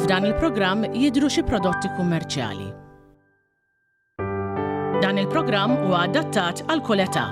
F'dan il-programm jidhru xi prodotti kummerċjali. Dan il-programm huwa adattat għal kull età.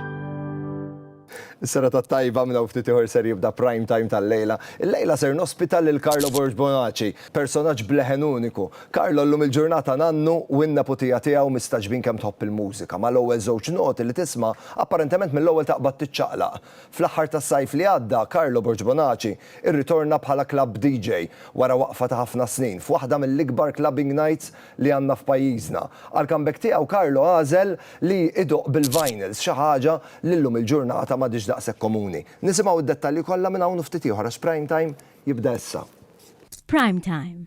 Is-sera ta' tajba minn hawn ftit ieħor ser jibda prime time tal-lejla. Il-lejla ser nospita lil Carlo Borg Bonaci, personaġġ bleħen uniku, Carlo llum il-ġurnata nannu u n-neputija tiegħu mistagħġbin kemm tħobb il-mużika. Mal-ewwel żewġ noti li tisma', apparentement mill-ewwel taqbad tiċċaqlaq. Fl-aħħar tas-sajf li għadda, Carlo Borg Bonaci irritorna bħala club DJ wara waqfa ta' ħafna snin f'waħda mill-ikbar clubbing nights li għandna f'pajjiżna. Għall-comeback tiegħu Carlo għażel li idoqq bil-vinyls, xi ħaġa li llum il-ġurnata m'għadhiex daqshekk komuni. Nisimgħu d-dettalji kollha minn hawn u ftit ieħor għax Prime Time jibda issa. F'Prime Time,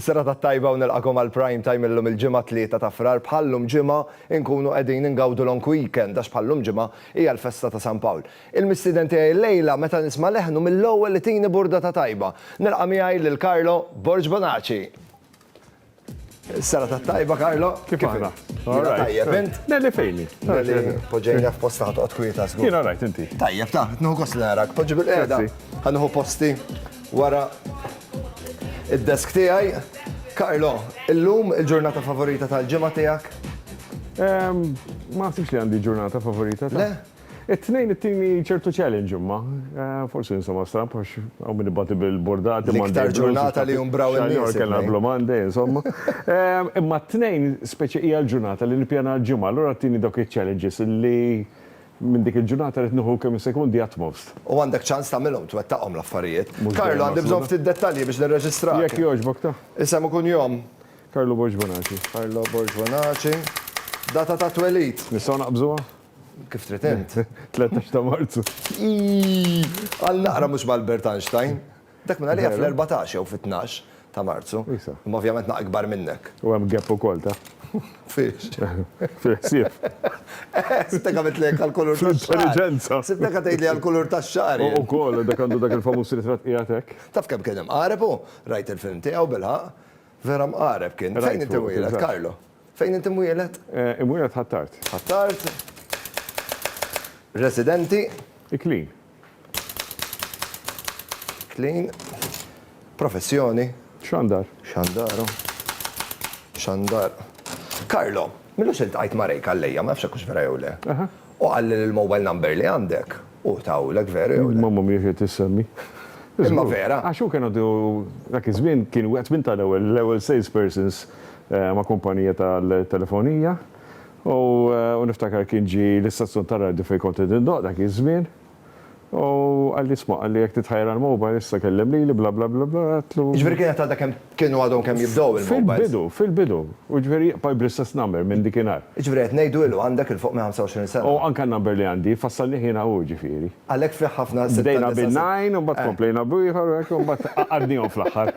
Is-serata t-tajba u nilqakom għal Prime Time illum il-ġimgħa tlieta ta' Frar bħallum ġimgħa inkunu qegħdin ingawdu long weekend għax bħallum ġimgħa hija l-festa ta' San Pawl. Il-mistieden tiegħi llejla meta nisma' leħnu mill-ewwel itini burdata tajba. Nilqa' miegħi lil Carlo Borg Bonaci. Serata tajba, Karlo. Kif għana? Tajjeb, int? Nelli fejni. Poġġejna f'posta ħatqot kwieta, skur. Jena rajt, inti. Tajjeb, ta' nħu kos narak, poġġi bil-qeda. Għanħu posti wara id-desk tijaj. Karlo, illum il-ġurnata favorita tal-ġimma tijak? Ma għasibx li għandi ġurnata favorita. Le? It-Tnejn ittini ċertu challenge imma. Forsi insomma stramb għax hawn min ibati bil-bordati Monday. L-iktar ġurnata li jumbraw in-nies. Kellna Blue Monday insomma. Imma t-Tnejn speċi hija l-ġurnata li nippjana l-ġimgħa, allura ittini dawk iċ-challenges li minn dik il-ġurnata rrid nieħu kemm jista' jkun the utmost. U għandek ċans tagħmilhom, twettaqhom l-affarijiet. Carlo għandi bżonn ftit dettalji biex nirreġistrak. Jekk jogħġbok ta. Isem u kunjom. Carlo Borg Bonaci. Carlo Borg Bonaci. Data ta' twelid. Nistgħu naqbżuha? Kif trid int? 13 ta' Marzu. Għal naqra mhux m'Albert Einstein. Dak minn għalija fl-14 jew fit-12 ta' Marzu. Imma ovvjament naqra ikbar minnek. U hemm gap ukoll ta'. Fiex? Fil-ħsieb. Sibtek għamiltlek għall-kulur tax-xagħar. Fl-intelliġenza. Sibtek qed tgħidli għall-kulur tax-xagħar. U wkoll dak għandu dak il-famuż ritratt qiegħed hekk. Taf kemm kien imqareb hu? Rajt il-film tiegħu bil-ħaqq. Vera mqareb kien. Fejn inti wieled, Carlo? Fejn inti mwieled? Imwieled Ħ'Attard. Ħ'Attard. Residenti? Iklin. Iklin. Professjoni? Xandar. Xandaru. Xandar. Carlo, minn lux iltqajt ma' Ray Calleja, ma nafx jekk hux vera jew le. Aha. Hu qalli li l-mobile number li għandek Hu tawlek veru jew le? Mamma mhijiex qed issemmi. Imma vera! Għax hu kien għadu, dak iż-żmien kien wieħed minn ta' l-ewwel, l-ewwel sales persons ma' kumpanija tal-telefonija u niftakar kien ġie l-istazzjon tar-radju fejn kont qed indoqq dak iż-żmien u qalli isma' qalli jekk titħajjar għall-mobile issa kellem lili bla bla bla bla għedtlu. Jiġifieri kienet għadha kemm Kienu għadhom kemm jibdew il-mobiles. Fil-bidu, fil-bidu. U ġifieri jibqa' jibqa' bl-istess number minn dikinhar. Jiġifieri qed ngħidu ilu għandek 'il fuq minn 25 sena. U anke n-number li għandi, fassalnih jiena hu ġifieri. Għalhekk fih ħafna sitta, disa', seba'. Bdejna bin-nine u mbagħad komplejna b'ieħor u hekk u mbagħad għaqqadnihom fl-aħħar.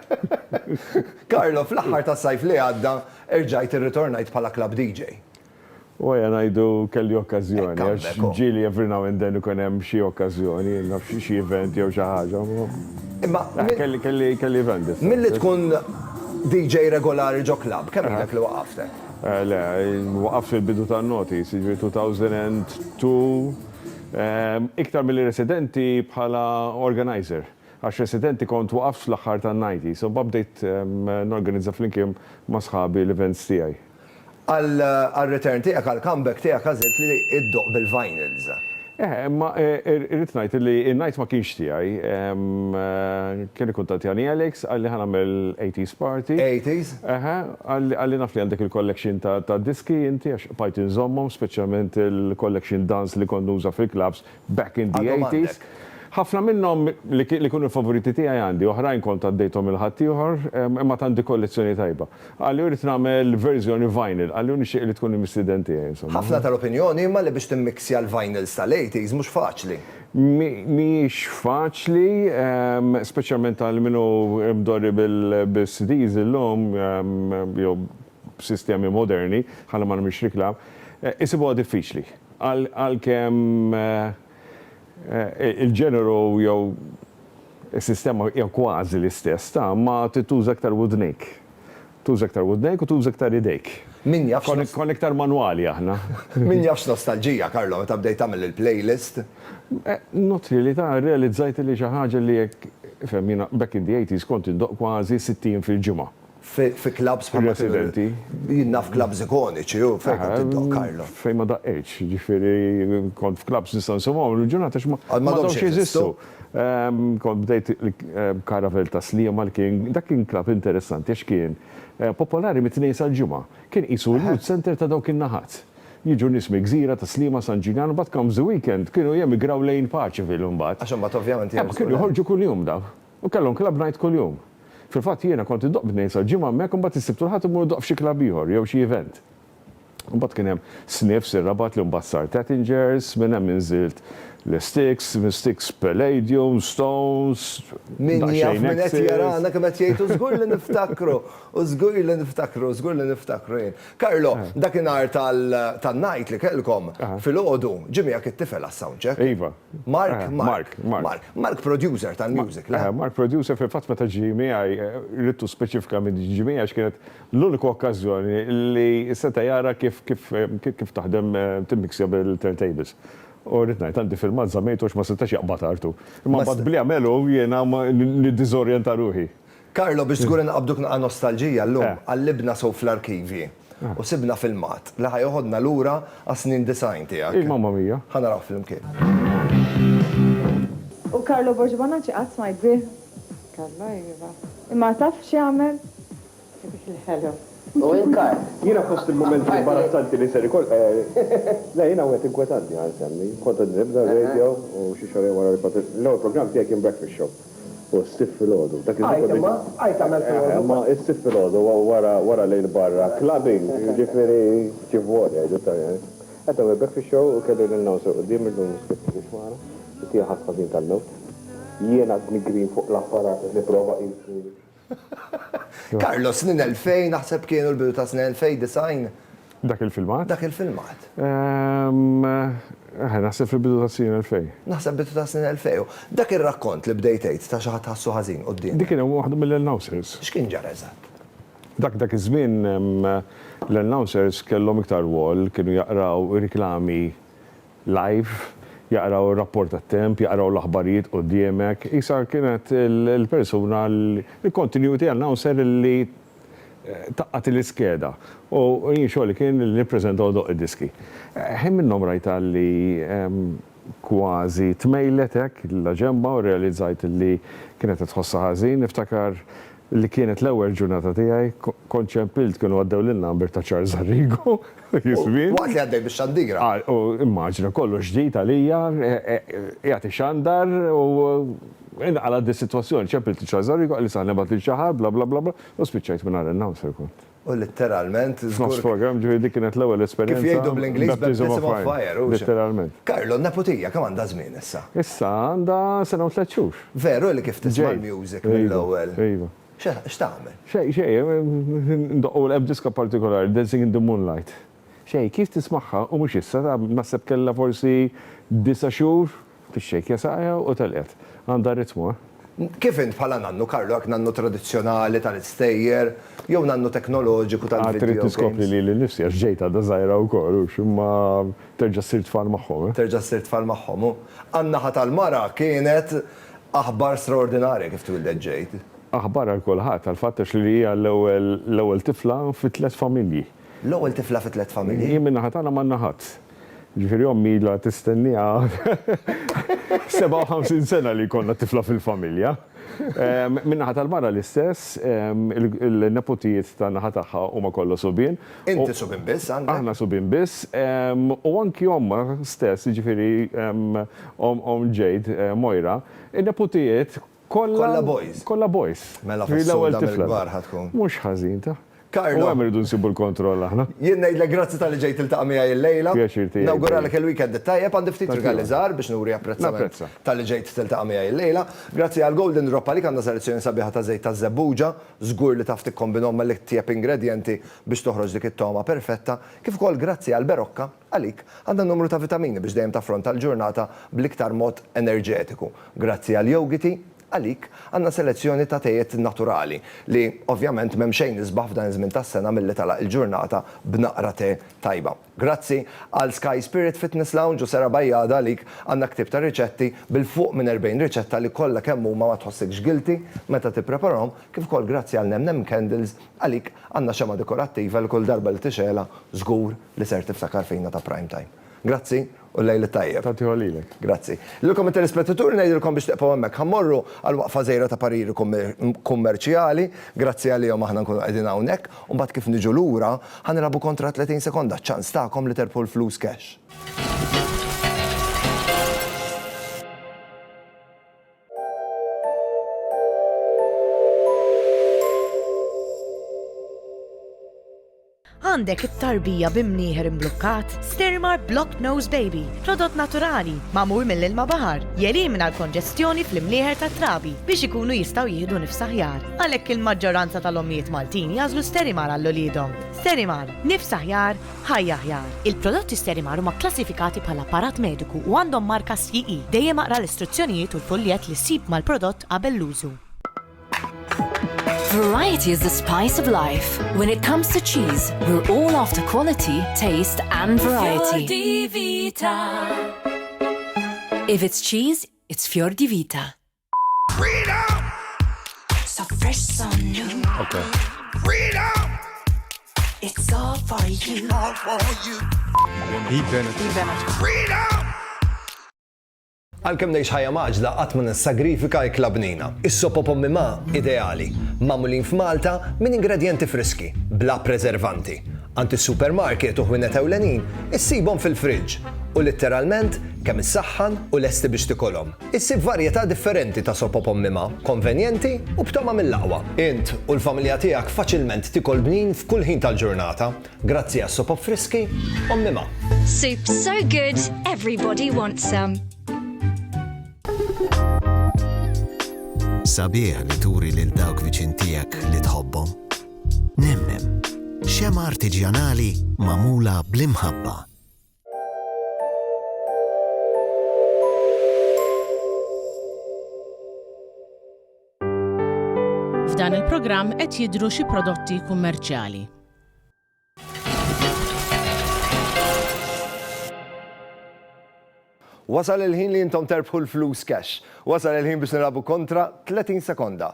Carlo, fl-aħħar tas-sajf li għadda erġajt irritornajt bħala club DJ. U ejja ngħidu kelli okkażjoni, għax ġieli every now and then ikun hemm xi okkażjoni, naf xi event jew xi ħaġa, imma kelli event differenti. Milli tkun DJ regolari ġo klabb, kemm ilek li waqaft hekk? Le, waqaft fil-bidu tan-noughties, jiġifieri 2002, iktar milli residenti bħala organiser, għax residenti kont waqaft fl-aħħar tan-nineties, u mbagħad bdejt norganizza flimkien ma' sħabi l-events tiegħi. Għar-return tiegħek, għall-comeback tiegħek għażilt li ddoqq bil-vinyls. Eħe, imma irrid ngħid li n-night ma kienx tiegħi. Kien ikkuntattjani Alex, qalli ħa nagħmel eighties party. Eighties? Eħe, qalli naf li għandek il-collection ta' diski inti għax bqajt inżommhom, speċjalment il-collection Dun's li kont nuża fil-clubs Back in the eighties. Ħafna minnhom li kienu l-favoriti tiegħi għandi, oħrajn kont għaddejthom lil ħaddieħor, imma għad għandi kollezzjoni tajba. Qalli irrid nagħmel verżjoni vinyl, qalli u nixtieq li tkun il-mistieden tiegħi insomma. Ħafna tal-opinjoni imma li biex timmixja l-vinyls tal-eighties mhux faċli. Mhijiex faċli, speċjalment għal min hu mdorri bil-CDs illum jew b'sistemi moderni, ħalli ma nagħmilx riklam, isibuha diffiċli. Għalkemm il-ġeneru jew is-sistema hija kważi l-istess, ta' ma trid tuża iktar widnejk. Tuża iktar widnejk u tuża iktar idejk. Min jaf x'nos. Konna iktar manwali aħna. Min jaf x'nostalġija, Carlo, meta bdejt tagħmel il-playlist. Not really, ta' irrealizzajt li xi ħaġa li hekk, ifhem, jiena back in the eighties kont indoqq kważi sittin fil-ġimgħa. fi klabbs bħal. Ir-residenti. Jien naf klabbs ikoniċi u fejn kont iddoqq Carlo. Fejn ma daqqejtx, jiġifieri kont f'klabbs nistgħu nsemmuhom illum il-ġurnata għax m'għadhomx jeżistu. Kont bdejt Caravelle ta' Sliema li kien dak kien klabb interessanti għax kien popolari mit-Tnejn sal-Ġimgħa. Kien qisu l-youth centre ta' dawk in-naħat. Jiġu nies mill-gżira, ta' Sliema, San Ġiljan u mbagħad comes the weekend kienu jemigraw lejn Paċeville imbagħad. Għax imbagħad ovvjament jerġgħu. Kienu joħorġu kuljum dawn. U kellhom club night kuljum. Fil-fatt jiena kont iddoqq b'tnejn sal-Ġimgħa hemmhekk u mbagħad is-Sibt u l-Ħadd immur idoqq f'xi club ieħor jew xi event. U mbagħad kien hemm Sniffs ir-Rabat li mbagħad sar Tattingers, minn hemm inżilt Le Sticks, minn Sticks Palladium, Stones, Min jaf min qed jarana kemm qed jgħid u żgur li niftakru, u żgur li niftakru, żgur li niftakru jien. Carlo, dakinhar tan-night li kellkom, filgħodu, ġie miegħek it-tifel għas-soundcheck. Iva. Mark, Mark, Mark. Mark producer tal-music, le? Eh, Mark producer fil-fatt meta ġi miegħi eh, rittu speċifikament ġi miegħi għax kienet l-uniku okkażjoni li seta' jara kif kif eh, kif taħdem timmiksja bil-turntables. U rrid ngħid għandi filmat żammejtu għax ma setax jaqbad artu. Imma bad bli għamelu jiena li diżorjenta ruħi. Carlo, biex żgur inqabduk naqa' nostalġija llum, qallibna sew fl-arkivji u sibna filmat li ħa joħodna lura għas-snin disgħin tiegħek. Ih, mamma mia! Ħa narawh flimkien. U Carlo Borg Bonacci qatt smajt bih? Carlo, iva. Imma taf x'jagħmel? Dik il-ħelu. U in kard. Jiena fost il-mumenti imbarazzanti li ser ikoll eh. Le, jien hawn qed inkwetantni għal kemm hi. Kont qed nibda r-radio u xi xahrejn wara li kont. L-ewwel programm tiegħi kien Breakfast Show u s-Sibt filgħodu. Dak iż-żmien kont. Għid imma, għid tagħmel filgħodu. Imma s-Sibt filgħodu wara lejl barra, clubbing, jiġifieri kif vol jgħidu t-Taljani. Qed nagħmel Breakfast Show u kelli l-announcer quddiem illum miskiet ma kienx magħna, it-tieni ħass ħażin tal-mewt. Jiena qed nigri fuq l-apparat qed nipprova qisni. Carlo, snin 2000 naħseb kienu l-bidu ta' snin 2090. Dak il-filmat? Dak il-filmat. Ehm, naħseb fil-bidu ta' snin 2000. Naħseb bidu ta' snin 2000. Dak ir-rakkont li bdejt tgħid ta' xi ħadd ħassu ħażin quddiem. Dik kien waħda mill-announcers. X'kien ġara eżatt? Dak dak iż-żmien ehm, l-announcers kellhom iktar wol, kienu jaqraw riklami live, jaqraw ir-rapport tat-temp, jaqraw l-aħbarijiet quddiemek, qisha kienet il-persuna, il-continuity announcer li taqgħad il-iskeda u jien xogħli kien li nippreżenta u ndoqq id-diski. Ħin minnhom rajtha li kważi tmejlet hekk laġenba u rrealizzajt li kienet qed tħossha ħażin, niftakar li kienet l-ewwel ġurnata tiegħi, kont ċempilt kienu għaddew lin-number ta' Charles Arrigo, iż-żmien. Waqt li għaddej bix-xandira. U immaġina, kollox ġdid għalija, qiegħed ixandar u inqalgħet dis-sitwazzjoni, ċempilt lil Charles Arrigo, qalli saħħ nibgħat lil xi ħadd, bla bla bla bla, u spiċċajt mingħajr announcer kont. U litteralment, żgur. F'nofs programm, ġifieri dik kienet l-ewwel esperjenza. Kif jgħidu bl-Ingliż, baptism of fire, u. Litteralment. Carlo, n-neputija kemm għandha żmien issa? Issa għandha sena u tliet xhur. Veru li kif tisma' l-music mill-ewwel. Iva, iva. X'tagħmel? Xejn, xejn, ndoqqu l-ebdiska partikolari, Dancing in the Moonlight. Shakey's tismagħha u mhux issa, naħseb kellha forsi disa' xhur fix-shakey'a saqajha u telqet. Għandha r-ritmu, eh. Kif int bħala nannu, Carlo, hekk nannu tradizzjonali tal-istejjer, jew nannu teknoloġiku tal-video games? Għad trid tiskopri lili nnifsi għax ġejt għadha żgħira wkoll, hux, imma terġa' ssir tfal magħhom, eh. Terġa' ssir tfal magħhom, hu. Għan-naħa tal-mara kienet aħbar straordinarja kif twieldet Jade. Aħbar għal kulħadd, għall-fatt għax li hija l-ewwel tifla fi tliet familji. L-ewwel tifla fi tliet familji. Jien min-naħa tagħna m'għandna ħadd. Jiġifieri ommi ilha tistennieha 57 sena li jkollna tifla fil-familja. Min-naħa tal-mara l-istess, il-neputijiet tan-naħa tagħha huma kollha subien. Inti subien biss għandek? Aħna subien biss. U anki ommha stess, jiġifieri omm Jade, Moira, in-neputijiet Kollha boys. Kollha boys. Mela fis-suq mill-kbar ħa tkun. Mhux ħażin ta'. Karlo. U hemm irridu nsibu l-kontroll aħna. Jien ngħidlek grazzi talli ġejt tiltaqa' miegħi illejla. Pjaċir tiegħi. Nawguralek il-weekend it-tajjeb. Għandi ftit rigali żgħar biex nuri apprezzament talli ġejt tiltaqa' miegħi illejla. Grazzi għal Golden Drop għalik għandha selezzjoni sabiħa ta' żejt taż-żebbuġa. Żgur li taf tikkombinhom mal-itjeb ingredjenti biex toħroġ dik it-togħma perfetta. Kif ukoll grazzi għal Berocca. Għalik, għandha numru ta' vitamini biex dejjem taffronta l-ġurnata bl-iktar mod enerġetiku. Grazzi għall-jowgiti, għalik, għandna selezzjoni ta' tejiet naturali, li, ovvjament, m'hemm xejn isbaħ f'dan iż-żmien tas-sena milli tagħlaq il-ġurnata b'naqra te tajba. Grazzi għal Sky Spirit Fitness Lounge u Sera Bajada, għalik, għandna ktieb ta' riċetti bil-fuq minn 40 riċetta li kollha kemm huma ma tħossikx guilty meta tippreparahom, kif ukoll grazzi għal Nem Nem Candles, Għalik, għandna xemgħa dekorattiva li kull darba li tixgħelha żgur li ser tiftakar fina ta' Prime Time. Grazzi u l-lejl it-tajjeb. Tagħtiha lilek. Grazzi. Lilkom it-telespettaturi ngħidilkom biex tibqgħu hemmhekk. Ħa mmorru għal waqfa żgħira ta' pariri kummerċjali. Grazzi għalihom aħna nkunu qegħdin hawnhekk u mbagħad kif niġu lura ħa nilagħbu kontra 30 sekonda, ċ-ċans tagħkom li terbħu l-flus cash. Għandek it-tarbija bi mnieħer imblukkat? Stirmar Blocked Nose Baby, prodott naturali, magħmul mill-ilma baħar, jelimina l-konġestjoni fl-imnieħer tat-trabi biex ikunu jistgħu jieħdu nifs aħjar. Għalhekk il-maġġoranza tal-ommijiet Maltin jagħżlu Sterimar għal uliedhom. Sterimar, nifs aħjar, Ħajja Aħjar, Il-prodotti Sterimar huma kklassifikati bħala apparat mediku u għandhom marka CE. Dejjem aqra l-istruzzjonijiet u l-fuljett li ssib mal-prodott qabel l-użu. Variety is the spice of life. When it comes to cheese, we're all after quality, taste and variety. If it's cheese, it's Fjor di Vita. Okay. Freedom! It's all for you. All for you. Eve Bennett. Eve Bennett. Freedom! Għalkemm ngħix ħajja maġla qatt ma nissagrifika jkla bnina. Is-sopo pommi ma ideali, magħmulin f'Malta minn ingredjenti friski, bla preservanti. Għand is-supermarket u ħwienet ewlenin issibhom fil-friġġ u litteralment kemm issaħħan u lesti biex tikolhom. Issib varjetà differenti ta' sopop ommima, konvenjenti u b'tama mill-aqwa. Int u l-familja tiegħek faċilment tikol bnin f'kull ħin tal-ġurnata grazzi għas-sopop friski ommima. Soup so good, everybody wants some. Sabiħ li turi lil dawk viċin tiegħek li tħobbhom. Nemnem, xemgħa artiġjanali magħmula bl-imħabba. F'dan il-programm qed jidhru xi prodotti kummerċjali. Wasal il-ħin li intom terbħu l-flus cash. Wasal il-ħin biex nilagħbu kontra 30 sekonda.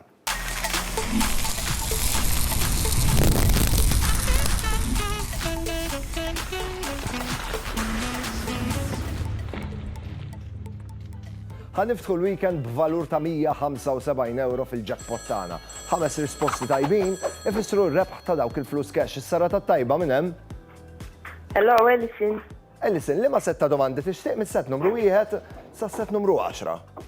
Ħaniftħu l-weekend b'valur ta' 175 euro fil-jackpot tagħna. Ħames risposti tajbin ifissru r-rebħ ta' dawk il-flus cash. Is-sara ta' tajba minn hemm. Hello, Ellison. Ellison, li ma setta domandi tixtieq mis-set numru wieħed sa set numru 10?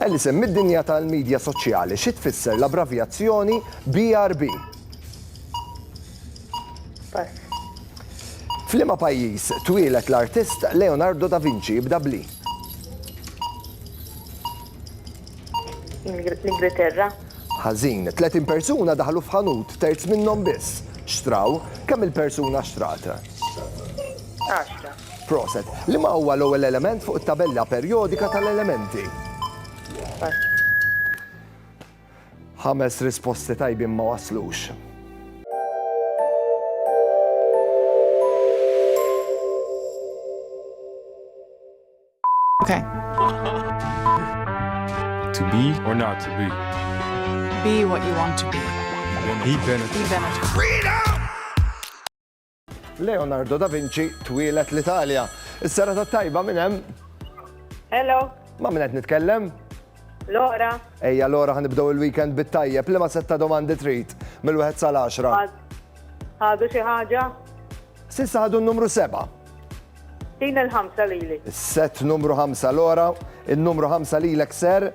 Alison, mid-dinja tal-midja soċjali, xi tfisser l-abbravjazzjoni BRB? F'liema pajjiż twieled l-artist Leonardo da Vinci jibda b'li? L-Ingilterra. Ħażin, 30 persuna daħlu f'ħanut, terz minnhom biss xtraw. Kemm il-persuna xtrat? 10. Proset. Liema huwa l-ewwel element fuq it-tabella perjodika tal-elementi? Pass. Ħames risposti tajbin ma waslux. Okay. To be or not to be. Be what you want to be. Be benefit. Be benefit. Freedom! Leonardo da Vinci twieled l-Italja. Is-sera ta' tajba minn hemm. Hello. Ma' minn qed nitkellem? Lora. Ejja Lora ħanibdew il-weekend bit-tajjeb li ma setta domandi trid mill-1 sal-10. Ħadu xi ħaġa? Sissa ħadu n-numru 7. Din il-ħamsa lili. Set numru 5 l-ora, il-numru 5 lilek ser,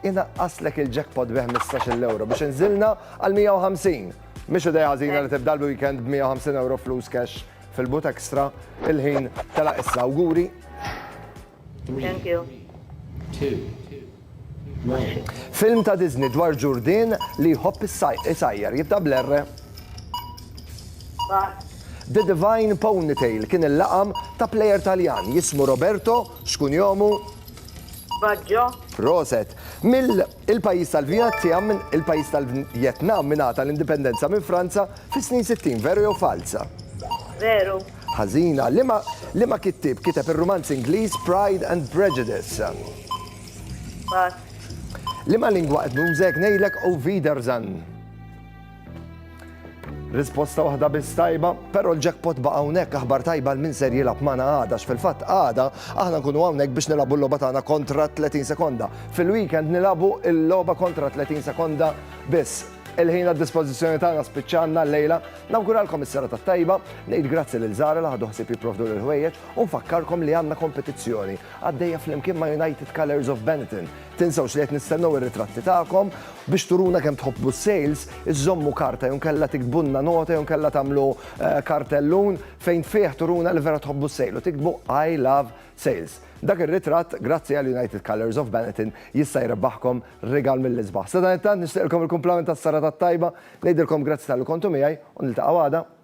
inaqqaslek il-jackpot bih 15 l-euro biex nżilna għal 150. Mhix idea ħażina li tibda l-weekend b'150 flus cash fil-but extra il-ħin tela' issa awguri. Thank you. Film ta' Disney dwar ġurdin li jħobb is-sajjar jibda bl-erre. The Divine Ponytail kien il-laqam ta' plejer Taljan jismu Roberto xkun jomu. Baggio. Roset. Mill Il-pajjiż tal-Vjetjam, il-pajjiż tal-Vjetnam ingħata l-indipendenza minn Franza fis-snin sittin, veru jew falza? Veru. Ħażina. Liema liema kittieb kiteb ir-rumanz Ingliż Pride and Prejudice? Falz. Liema lingwa qed nuża jekk ngħidlek Auf Wiedersehen? Risposta waħda biss tajba, però l-jackpot ba' hawnhekk aħbar tajba l min ser jilab magħna għada fil-fatt għada aħna nkunu hawnhekk biex nilabu l-logħba tagħna kontra 30 sekonda. Fil-weekend nilabu l-logħba kontra 30 sekonda biss. Il-ħin għad dispożizzjoni tagħna spiċċanna l-lejla, nawguralkom is-sera tat-tajba, ngħid grazzi lil Zara li ħadu ħsieb jipprovdu l-ħwejjeġ u nfakkarkom li għandna kompetizzjoni għaddejja flimkien ma' United Colors of Benetton Tinsewx li qed nistennew ir-ritratti tagħkom biex turuna kemm tħobbu s-sales, iżżommu karta jew inkella tiktbulna nota jew inkella tagħmlu eh, kartellun fejn fih turuna li vera tħobbu s-sale u tiktbu I love sales. Dak ir-ritratt, grazzi għal United Colors of Benetton, jista' jrebbaħkom rigal mill-isbaħ. Sadan it-tant nixtieqilkom il-kumplament tas-sara tat-tajba, ngħidilkom grazzi tal kontu miegħi u niltaqgħu għada.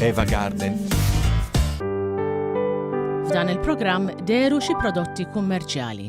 Eva Garden. F'dan il-programm deru xi prodotti kummerċjali.